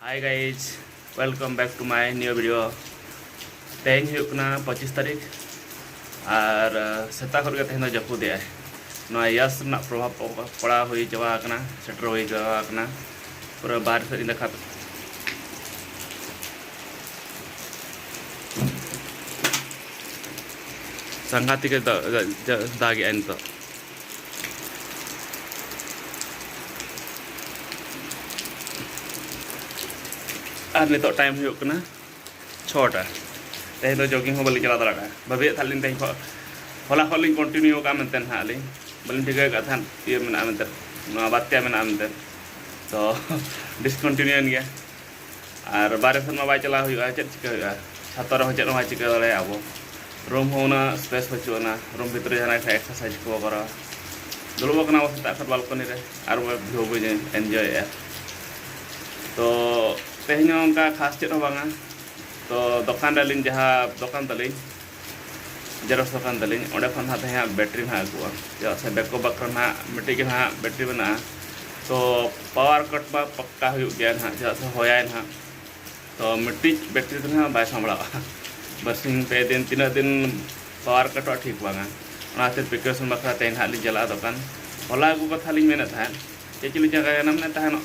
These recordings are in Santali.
high guys welcome back to my new video ᱛᱮᱦᱮᱧ ᱦᱩᱭᱩᱜ ᱠᱟᱱᱟ ᱯᱚᱸᱪᱤᱥ ᱛᱟᱹᱨᱤᱠᱷ ᱟᱨ ᱥᱮᱛᱟᱜ ᱠᱷᱚᱱ ᱜᱮ ᱛᱮᱦᱮᱧ ᱫᱚ ᱡᱟᱹᱯᱩᱫᱮᱜ ᱟᱭ ᱱᱚᱣᱟ ᱭᱟᱥ ᱨᱮᱱᱟᱜ ᱯᱨᱚᱵᱷᱟᱵᱽ ᱯᱟᱲᱟᱣ ᱦᱩᱭ ᱪᱟᱵᱟ ᱟᱠᱟᱱᱟ ᱥᱮᱴᱮᱨ ᱦᱩᱭ ᱪᱟᱵᱟ ᱟᱠᱟᱱᱟ ᱯᱩᱨᱟᱹ ᱵᱟᱦᱨᱮ ᱥᱮᱫ ᱤᱧ ᱫᱮᱠᱷᱟᱣ ᱥᱟᱸᱜᱷᱟᱛᱤᱠᱮ ᱫᱟᱜᱮᱜᱼᱟ ᱱᱤᱛᱚᱜ ᱟᱨ ᱱᱤᱛᱚᱜ ᱴᱟᱭᱤᱢ ᱦᱩᱭᱩᱜ ᱠᱟᱱᱟ ᱪᱷᱚᱴᱟ ᱛᱮᱦᱮᱧ ᱫᱚ ᱡᱚᱜᱤᱝ ᱦᱚᱸ ᱵᱟᱹᱞᱤᱧ ᱪᱟᱞᱟᱣ ᱫᱟᱲᱮ ᱠᱟᱜᱼᱟ ᱵᱷᱟᱹᱵᱤᱭᱮᱫ ᱛᱟᱦᱮᱸᱫ ᱞᱤᱧ ᱛᱮᱦᱮᱧ ᱠᱷᱚᱱ ᱦᱚᱞᱟ ᱠᱷᱚᱱ ᱞᱤᱧ ᱠᱚᱱᱴᱤᱱᱤᱭᱩ ᱠᱟᱜᱼᱟ ᱢᱮᱱᱛᱮ ᱦᱟᱸᱜ ᱟᱹᱞᱤᱧ ᱵᱟᱹᱞᱤᱧ ᱴᱷᱤᱠᱟᱹ ᱠᱟᱜ ᱛᱟᱦᱮᱸᱫ ᱤᱭᱟᱹ ᱢᱮᱱᱟᱜᱼᱟ ᱢᱮᱱᱛᱮ ᱱᱚᱣᱟ ᱵᱟᱨᱭᱟ ᱢᱮᱱᱟᱜᱼᱟ ᱢᱮᱱᱛᱮ ᱛᱚ ᱰᱤᱥᱠᱚᱱᱴᱤᱱᱤᱭᱩᱭᱮᱱ ᱜᱮᱭᱟ ᱟᱨ ᱵᱟᱨᱦᱮ ᱥᱮᱫ ᱢᱟ ᱵᱟᱭ ᱪᱟᱞᱟᱣ ᱦᱩᱭᱩᱜᱼᱟ ᱪᱮᱫ ᱪᱤᱠᱟᱹ ᱦᱩᱭᱩᱜᱼᱟ ᱪᱷᱟᱛᱟ ᱨᱮᱦᱚᱸ ᱪᱮᱫ ᱦᱚᱸ ᱵᱟᱭ ᱪᱤᱠᱟᱹ ᱫᱟᱲᱮᱭᱟᱜᱼᱟ ᱟᱵᱚ ᱨᱩᱢ ᱦᱚᱸ ᱩᱱᱟᱹᱜ ᱥᱯᱮᱥ ᱵᱟᱹᱪᱩᱜ ᱟᱱᱟ ᱨᱩᱢ ᱵᱷᱤᱛᱨᱤ ᱡᱟᱦᱟᱱᱟᱜ ᱠᱷᱟᱱ ᱮᱠᱥᱟᱨᱥᱟᱭᱤᱡᱽ ᱠᱚ ᱠᱚᱨᱟᱣᱟ ᱫᱩᱲᱩᱵ ᱟᱠᱟᱱᱟ ᱵᱚ ᱥᱮᱛᱟᱜ ᱠᱷᱚᱱ ᱵᱟᱞᱠᱚᱱᱤ ᱨᱮ ᱟᱨ ᱵᱷᱤᱭᱩ ᱵᱟᱹᱧ ᱮᱱᱡᱚᱭᱮᱫᱼᱟ ᱛᱚ ᱛᱮᱦᱮᱧ ᱦᱚᱸ ᱚᱱᱠᱟ ᱠᱷᱟᱥ ᱪᱮᱫ ᱦᱚᱸ ᱵᱟᱝᱟ ᱛᱚ ᱫᱚᱠᱟᱱ ᱨᱮ ᱟᱹᱞᱤᱧ ᱡᱟᱦᱟᱸ ᱫᱚᱠᱟᱱ ᱛᱟᱹᱞᱤᱧ ᱡᱮᱨᱚᱠᱥ ᱫᱚᱠᱟᱱ ᱛᱟᱹᱞᱤᱧ ᱚᱸᱰᱮ ᱠᱷᱚᱱ ᱱᱟᱦᱟᱜ ᱛᱮᱦᱮᱧ ᱦᱟᱸᱜ ᱵᱮᱴᱨᱤ ᱱᱟᱦᱟᱜ ᱟᱹᱜᱩᱜᱼᱟ ᱪᱮᱫᱟᱜ ᱥᱮ ᱵᱮᱠᱚ ᱵᱟᱠᱷᱨᱟ ᱱᱟᱦᱟᱜ ᱢᱤᱫᱴᱤᱡ ᱜᱮ ᱱᱟᱦᱟᱜ ᱵᱮᱴᱨᱤ ᱢᱮᱱᱟᱜᱼᱟ ᱛᱚ ᱯᱟᱣᱟᱨ ᱠᱟᱴ ᱢᱟ ᱯᱟᱠᱠᱟ ᱦᱩᱭᱩᱜ ᱜᱮᱭᱟ ᱱᱟᱦᱟᱜ ᱪᱮᱫᱟᱜ ᱥᱮ ᱦᱚᱭᱟᱭ ᱱᱟᱦᱟᱜ ᱛᱚ ᱢᱤᱫᱴᱤᱡ ᱵᱮᱴᱨᱤ ᱫᱚ ᱱᱟᱦᱟᱜ ᱵᱟᱭ ᱥᱟᱢᱵᱲᱟᱜᱼᱟ ᱵᱟᱨᱥᱤᱧ ᱯᱮ ᱫᱤᱱ ᱛᱤᱱᱟᱹᱜ ᱫᱤᱱ ᱯᱟᱣᱟᱨ ᱠᱟᱴᱚᱜᱼᱟ ᱴᱷᱤᱠ ᱵᱟᱝᱟ ᱚᱱᱟ ᱠᱷᱟᱹᱛᱤᱨ ᱯᱨᱤᱠᱚᱥᱚᱱ ᱵᱟᱠᱷᱨᱟ ᱛᱮᱦᱮᱧ ᱱᱟᱦᱟᱜ ᱞᱤᱧ ᱪᱟᱞᱟᱜᱼᱟ ᱫᱚᱠᱟᱱ ᱦᱚᱞᱟ ᱟᱹᱜᱩ ᱠᱟᱛᱷᱟ ᱞᱤᱧ ᱢᱮᱱᱮᱫ ᱛᱟᱦᱮᱸᱫ ᱪᱮᱫ ᱪᱚᱞᱤᱧ ᱪᱤᱠᱟᱹᱭᱮᱱᱟ ᱢᱮᱱᱮᱫ ᱛᱟᱦᱮᱱᱚᱜ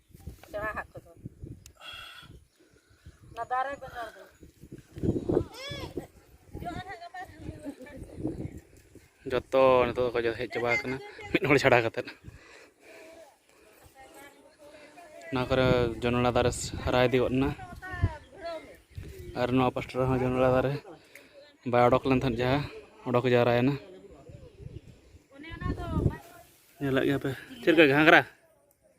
ᱥᱮᱬᱟ ᱦᱟᱜ ᱠᱚᱫᱚ ᱚᱱᱟ ᱫᱟᱨᱮ ᱵᱮᱱᱟᱣ ᱫᱚ ᱡᱚᱛᱚ ᱱᱤᱛᱚᱜ ᱫᱚᱠᱚ ᱦᱮᱡ ᱪᱟᱵᱟ ᱟᱠᱟᱱᱟ ᱢᱤᱫ ᱦᱚᱲ ᱪᱷᱟᱲᱟ ᱠᱟᱛᱮᱫ ᱚᱱᱟ ᱠᱚᱨᱮ ᱡᱚᱱᱚᱲᱟ ᱫᱟᱨᱮ ᱦᱟᱨᱟ ᱤᱫᱤ ᱜᱚᱫ ᱮᱱᱟ ᱟᱨ ᱱᱚᱣᱟ ᱯᱟᱥᱴᱟ ᱨᱮᱦᱚᱸ ᱡᱚᱱᱚᱲᱟ ᱫᱟᱨᱮ ᱵᱟᱭ ᱚᱰᱚᱠ ᱞᱮᱱ ᱛᱟᱦᱮᱸᱫ ᱡᱟᱦᱟᱸ ᱚᱰᱚᱠ ᱡᱟᱣᱨᱟᱭᱮᱱᱟ ᱧᱮᱞᱮᱫ ᱜᱮᱭᱟᱯᱮ ᱪᱮᱫ ᱞᱮᱠᱟ ᱜᱷᱟᱸᱜᱽᱨᱟ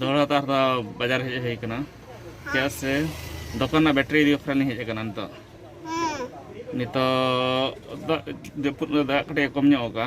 ᱫᱚᱦᱲᱟ ᱛᱟᱨ ᱫᱚ ᱵᱟᱡᱟᱨ ᱦᱮᱡ ᱦᱩᱭ ᱠᱟᱱᱟ ᱪᱮᱫᱟᱜ ᱥᱮ ᱫᱚᱠᱟᱱ ᱨᱮᱱᱟᱜ ᱵᱮᱴᱨᱤ ᱤᱫᱤ ᱵᱟᱠᱷᱨᱟ ᱞᱤᱧ ᱦᱮᱡ ᱟᱠᱟᱱᱟ ᱱᱤᱛᱚᱜ ᱱᱤᱛᱚᱜ ᱫᱟᱜ ᱡᱟᱹᱯᱩᱫ ᱫᱟᱜ ᱠᱟᱹᱴᱤᱡ ᱠᱚᱢ ᱧᱚᱜ ᱟᱠᱟᱫᱼᱟ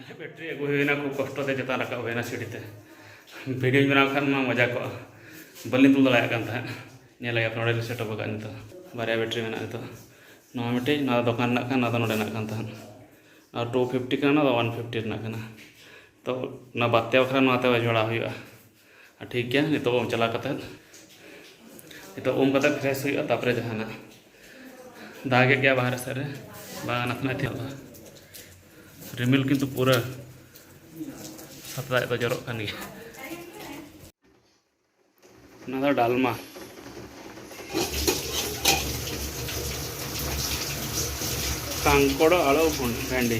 ᱵᱮᱴᱨᱤ ᱟᱹᱜᱩ ᱦᱩᱭᱱᱟ ᱠᱷᱩᱵ ᱠᱚᱥᱴᱚ ᱛᱮ ᱪᱮᱛᱟᱱ ᱨᱟᱠᱟᱵ ᱦᱩᱭᱱᱟ ᱥᱤᱲᱤ ᱛᱮ ᱵᱷᱤᱰᱤᱭᱳᱧ ᱵᱮᱱᱟᱣ ᱠᱷᱟᱱ ᱢᱟ ᱢᱚᱡᱟ ᱠᱚᱜᱼᱟ ᱵᱟᱹᱞᱤᱧ ᱛᱩᱞ ᱫᱟᱲᱮᱭᱟᱜ ᱠᱟᱱ ᱛᱟᱦᱮᱸᱫ ᱧᱮᱞ ᱞᱮᱜᱮ ᱱᱚᱰᱮ ᱞᱤᱧ ᱥᱮᱴᱚᱯ ᱟᱠᱟᱫ ᱱᱤᱛᱚᱜ ᱵᱟᱨᱭᱟ ᱵᱮᱴᱨᱤ ᱢᱮᱱᱟᱜᱼᱟ ᱱᱤᱛᱚᱜ ᱱᱚᱣᱟ ᱢᱤᱫᱴᱤᱡ ᱱᱚᱣᱟ ᱫᱚ ᱫᱚᱠᱟᱱ ᱨᱮᱱᱟᱜ ᱠᱟᱱᱟ ᱱᱚᱣᱟ ᱫᱚ ᱱᱚᱰᱮᱱᱟᱜ ᱠᱟᱱ ᱛᱟᱦᱮᱸᱫ ᱟᱨ ᱴᱩ ᱯᱷᱤᱯᱴᱤ ᱠᱟᱱᱟ ᱱᱚᱣᱟ ᱫᱚ ᱚᱣᱟᱱ ᱯᱷᱤᱯᱴᱤ ᱨᱮᱱᱟᱜ ᱠᱟᱱᱟ ᱛᱚ ᱚᱱᱟ ᱵᱟᱨᱭᱟ ᱵᱟᱠᱷᱨᱟ ᱱᱚᱣᱟᱛᱮ ᱡᱚᱲᱟᱣ ᱦᱩᱭᱩᱜᱼᱟ ᱴᱷᱤᱠ ᱜᱮᱭᱟ ᱱᱤᱛᱚᱜ ᱩᱢ ᱪᱟᱞᱟᱣ ᱠᱟᱛᱮ ᱱᱤᱛᱚᱜ ᱩᱢ ᱠᱟᱛᱮ ᱯᱷᱨᱮᱥ ᱦᱩᱭᱩᱜᱼᱟ ᱛᱟᱯᱚᱨᱮ ᱡᱟᱦᱟᱱᱟᱜ ᱫᱟᱜᱮᱫ ᱜᱮᱭᱟ ᱵᱟᱦᱨᱮ ᱥᱮᱫ ᱨᱮ ᱵᱟᱝ ᱱᱟᱥᱮ ᱱᱟᱥᱮ ᱛᱮ ᱨᱤᱢᱤᱞ ᱠᱤᱱᱛᱩ ᱯᱩᱨᱟᱹ ᱥᱟᱛᱞᱟᱭ ᱫᱚ ᱡᱚᱨᱚᱜ ᱠᱟᱱ ᱜᱮᱭᱟ ᱚᱱᱟ ᱫᱚ ᱰᱟᱞᱢᱟ ᱠᱟᱝᱠᱚᱲ ᱟᱲᱚ ᱵᱷᱮᱱᱰᱤ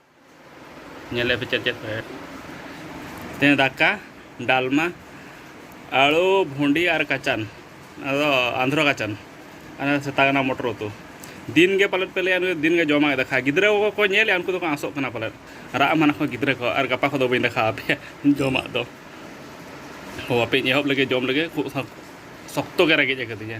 ᱧᱮᱞᱮᱫ ᱯᱮ ᱪᱮᱫ ᱪᱮᱫ ᱯᱮ ᱛᱮᱦᱮᱧ ᱫᱟᱠᱟ ᱰᱟᱞᱢᱟ ᱟᱹᱞᱩ ᱵᱷᱩᱸᱰᱤ ᱟᱨ ᱠᱟᱪᱟᱱ ᱟᱫᱚ ᱟᱱᱫᱷᱨᱚ ᱠᱟᱪᱟᱱ ᱟᱨ ᱥᱮᱛᱟᱜ ᱠᱟᱱᱟ ᱢᱚᱴᱚᱨ ᱩᱛᱩ ᱫᱤᱱ ᱜᱮ ᱯᱟᱞᱮᱫ ᱯᱮ ᱞᱟᱹᱭᱟ ᱱᱩᱭ ᱫᱤᱱ ᱜᱮ ᱡᱚᱢᱟᱭ ᱫᱟᱠᱟ ᱜᱤᱫᱽᱨᱟᱹ ᱠᱚᱠᱚ ᱧᱮᱞᱮᱫᱼᱟ ᱩᱱᱠᱩ ᱫᱚᱠᱚ ᱟᱸᱥᱚᱜ ᱠᱟᱱᱟ ᱯᱟᱞᱮᱫ ᱨᱟᱜ ᱢᱟᱱᱟ ᱠᱚ ᱜᱤᱫᱽᱨᱟᱹ ᱠᱚ ᱟᱨ ᱜᱟᱯᱟ ᱠᱚᱫᱚ ᱵᱟᱹᱧ ᱫᱟᱠᱟ ᱟᱯᱮᱭᱟ ᱡᱚᱢᱟᱜ ᱫᱚ ᱦᱚ ᱟᱯᱮᱧ ᱮᱦᱚᱵ ᱞᱮᱜᱮ ᱡᱚᱢ ᱞᱮᱜᱮ ᱠᱷᱩᱵ ᱥᱚᱠᱛᱚ ᱜᱮ ᱨᱮᱸᱜᱮᱡ ᱟᱠᱟᱫᱤᱧᱟ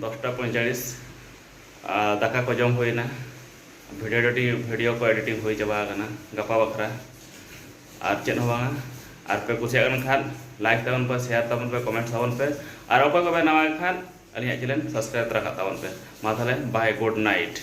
ᱫᱚᱥᱴᱟ ᱯᱚᱸᱭᱪᱟᱲᱤᱥ ᱟᱨ ᱫᱟᱠᱟ ᱠᱚ ᱡᱚᱢ ᱦᱩᱭᱱᱟ ᱵᱷᱤᱰᱤᱭᱳ ᱮᱰᱤᱴᱤᱝ ᱵᱷᱤᱰᱤᱭᱳ ᱠᱚ ᱮᱰᱤᱴᱤᱝ ᱦᱩᱭ ᱪᱟᱵᱟ ᱟᱠᱟᱱᱟ ᱜᱟᱯᱟ ᱵᱟᱠᱷᱨᱟ ᱟᱨ ᱪᱮᱫ ᱦᱚᱸ ᱵᱟᱝᱟ ᱟᱨ ᱯᱮ ᱠᱩᱥᱤᱭᱟᱜ ᱠᱟᱱ ᱠᱷᱟᱱ ᱞᱟᱭᱤᱠ ᱛᱟᱵᱚᱱ ᱯᱮ ᱥᱮᱭᱟᱨ ᱛᱟᱵᱚᱱ ᱯᱮ ᱠᱚᱢᱮᱱᱴ ᱛᱟᱵᱚᱱ ᱯᱮ ᱟᱨ ᱚᱠᱚᱭ ᱠᱚᱯᱮ ᱱᱟᱣᱟ ᱠᱷᱟᱱ ᱟᱹᱞᱤᱧᱟᱜ ᱪᱮᱱᱮᱞ ᱥᱟᱵᱥᱠᱨᱟᱭᱤᱵ ᱛᱚᱨᱟ ᱠᱟᱜ ᱛᱟᱵᱚᱱ ᱯᱮ ᱢᱟ ᱛᱟᱦᱚᱞᱮ ᱵᱟᱭ ᱜᱩᱰ ᱱᱟᱭᱤᱴ